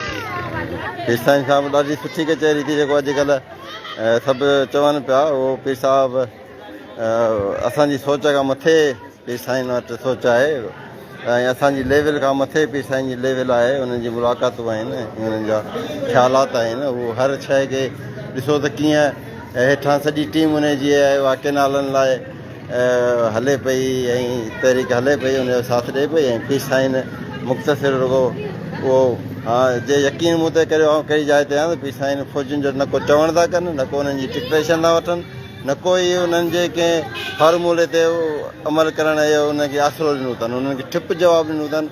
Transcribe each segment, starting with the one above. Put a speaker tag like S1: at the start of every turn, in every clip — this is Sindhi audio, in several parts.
S1: پير سائين صاحب ڏاڍي سٺي ڪچهري ٿي جيڪو اڄڪلهه سڀ چون پيا اهو پير صاحب اسان جي سوچ کان مٿي پير سائين وٽ سوچ آهي ۽ اسان جي ليول کان مٿي پير سائين جي ليول آهي انهن جي ملاقاتون آهن انهن جا خيالات آهن اهو هر شيء کي ڏسو ته ڪيئن هيٺان سڄي ٽيم انهن جي آهي اها ڪينالن لاء هلي پئي ۽ تحريڪ هلي پئي ان جو ساٿ ڏئي پئي ۽ پيس سائين مختصر رڳو اهو جي يقين مون تي ڪريو آئون ڪهڙي جاء تي آهيان ته پيس سائين فوجين جو نه ڪو چوڻ ٿا ڪن نه ڪو انهن جي ڊڪٽيشن ٿا وٺن نه ڪو ئي انهن جي ڪنهن فارمولي تي عمل ڪرڻ جو انهن کي آسرو ڏنو اٿن انهن کي ٺپ جواب ڏنو اٿن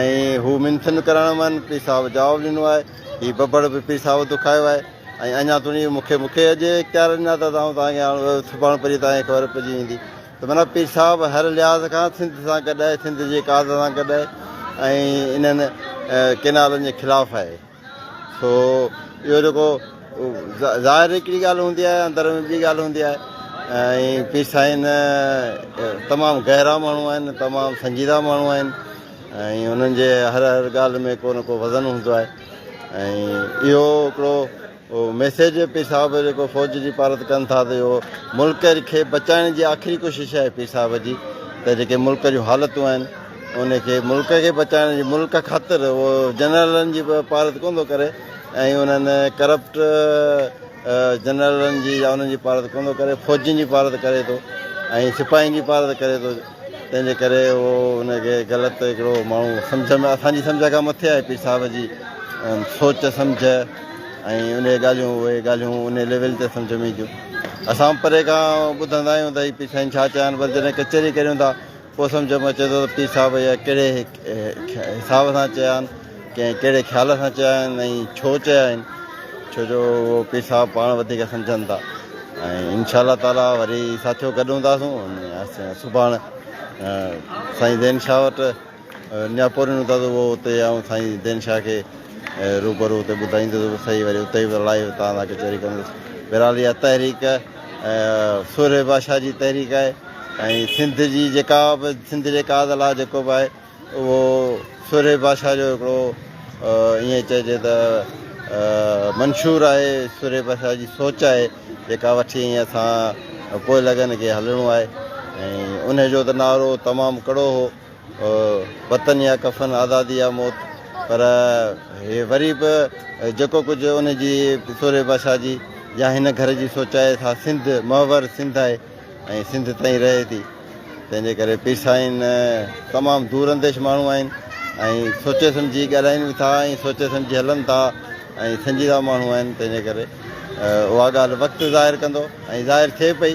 S1: ۽ هو منٿن ڪرڻ من پير صاحب جواب ڏنو آهي هي ببڙ به پير صاحب دکايو آهي ۽ اڃا توڻي مون کي مون کي اڄ اختيار ڏنا ته آئون توهان کي هاڻ سڀاڻ پرين توهان کي خبر پئجي ويندي ته معنيٰ پير صاحب هر لحاظ کان سنڌ سان گڏ آهي سنڌ جي ڪاز سان گڏ آهي ۽ انهن ڪينالن جي خلاف آهي سو اهو جيڪو ظاهر هڪڙي ڳالهه هوندي آهي اندر ۾ ٻي ڳالهه هوندي آهي ۽ پير سائين تمام گهرا ماڻهو آهن تمام سنجيده ماڻهو آهن ۽ انهن جي هر هر ڳالهه ۾ ڪو نه ڪو وزن هوندو آهي ۽ اهو هڪڙو ميسيج به پير صاحب جيڪو فوج جي پارت ڪن ٿا ته اهو ملڪ کي بچائڻ جي آخري ڪوشش آهي پير صاحب جي ته جيڪي ملڪ جون حالتون آهن ان کي ملڪ کي بچائڻ جي ملڪ خاطر اهو جنرلن جي پارت ڪون ٿو ڪري ۽ انهن ڪرپٽ جنرلن جي يا انهن جي پارت ڪون ٿو ڪري فوجين جي پارت ڪري ٿو ۽ سپاهين جي پارت ڪري ٿو تنهن جي ڪري اهو ان کي غلط هڪڙو ماڻهو سمجهه ۾ اسان جي سمجهه کان مٿي آهي پير صاحب جي سوچ سمجهه ۽ ان ڳالهيون اهي ڳالهيون ان ليول تي سمجهه ۾ اينديون اسان پري کان ٻڌندا آهيون ته هي پير سائين ڇا چيا آهن پر جڏهن ڪچهري ڪريون ٿا پوء سمجهه ۾ اچي ٿو ته پير صاحب يا ڪهڙي حساب سان چيا آهن ڪنهن ڪهڙي خيال سان چيا آهن ۽ ڇو چيا آهن ڇو جو اهو پير صاحب پاڻ وڌيڪ سمجهن ٿا ۽ انشاء الله تعالي وري ساٿيو گڏ هونداسون سڀاڻ سائين زين شاهه وٽ اڃا پورين هوندا ته اهو اتي آئون سائين زين شاهه کي روبرو اتي ٻڌائيندس صحيح وري اتي به لائيو تان لاء ڪچهري ڪندس بهرحال اها تحريڪ سورهيه بادشاهه جي تحريڪ آهي ۽ سنڌ جي جيڪا به سنڌ جي قائد لا جيڪو به آهي اهو سورهيه بادشاهه جو هڪڙو ائين چئجي ته منشور آهي سورهيه بادشاهه جي سوچ آهي جيڪا وٺي ائين اسان پوء لڳن کي هلڻو آهي ۽ ان جو ته نعرو تمام ڪڙو هو او وطن يا ڪفن، آزادي يا موت، پر هي وري به جيڪو ڪجهه ان جي پيسوري بادشاهه جي يا هن گهر جي سوچائي سا سنڌ محور سنڌ آهي ۽ سنڌ تئين رهي ٿي. تنهن جي ڪري پير سائين تمام دور انديش ماڻهو آهن ۽ سوچي سمجهي ڳالهائين به ٿا ۽ سوچي سمجهي هلن ٿا ۽ سنجيده ماڻهو آهن تنهن جي ڪري اها ڳالهه وقت ظاهر ڪندو ۽ ظاهر ٿئي پئي.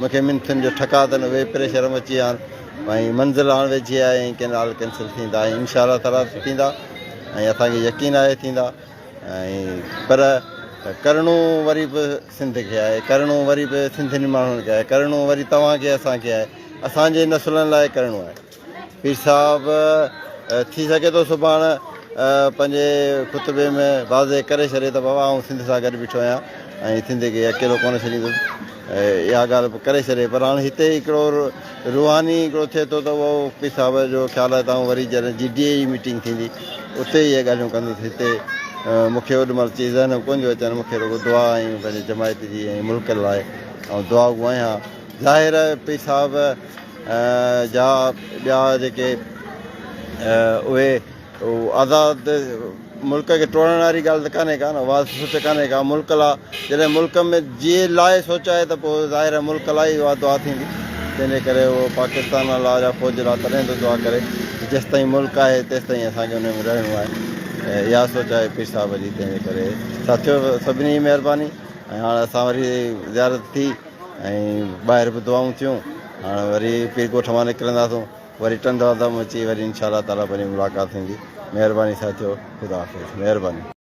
S1: مون کي منٿن جو ٺڪاء تن اهي پريشر ۾ اچي هاڻ ۽ منزل هاڻ ويجهي آهي ۽ ڪينال ڪينسل ٿيندا ۽ انشاء الله تعاليٰ ٿيندا ۽ اسان کي يقين آهي ٿيندا ۽ پر ڪرڻو وري به سنڌ کي آهي ڪرڻو وري به سنڌين ماڻهن کي آهي ڪرڻو وري توهان کي اسان کي آهي اسان جي نسلن لاء ڪرڻو آهي پير صاحب ٿي سگهي ٿو سڀاڻ پنهنجي خطبي ۾ واضح ڪري ڇڏي ته بابا آئون سنڌ سان گڏ بيٺو آهيان ۽ سنڌ کي اڪيلو ڪونه ڇڏيندس اها ڳالهه به ڪري ڇڏي پر هاڻ هتي هڪڙو روحاني هڪڙو ٿئي ٿو ته اهو پير صاحب جو خيال آهي ته آئون وري جڏهن جي ڊي اي جي ميٽنگ ٿيندي اتي اهي ڳالهيون ڪندس هتي مون کي اوڏي مهل چي ذهن ڪون جو اچن مون کي رڳو دعا ۽ پنهنجي جماعت جي ۽ ملڪ لاء آئون دعاگو آهيان ظاهر پير صاحب جا ٻيا جيڪي اهي آزاد ملڪ کي ٽوڙڻ واري ڳالهه ته ڪانهي ڪا نه اها سوچ ڪانهي ڪا ملڪ لا جڏهن ملڪ ۾ جي لاء سوچ آهي ته پوء ظاهر ملڪ لا ئي اها دعا ٿيندي تنهن جي ڪري اهو پاڪستان لا يا فوج لا تڏهن ته دعا ڪري جيستائين ملڪ آهي تيستائين اسان کي ان ۾ رهڻو آهي اها سوچ آهي پير صاحب جي تنهن جي ڪري ساٿيو سڀني جي مهرباني ۽ هاڻ اسان وري زيارت ٿي ۽ ٻاهر به دعائون ٿيون هاڻ وري پير ڳوٺ مان نڪرنداسون وري ٽنڊو اندم اچي وري انشاء الله تعالٰي پنهنجي ملاقات ٿيندي مهرباني ساٿيو خدا حافظ مهرباني.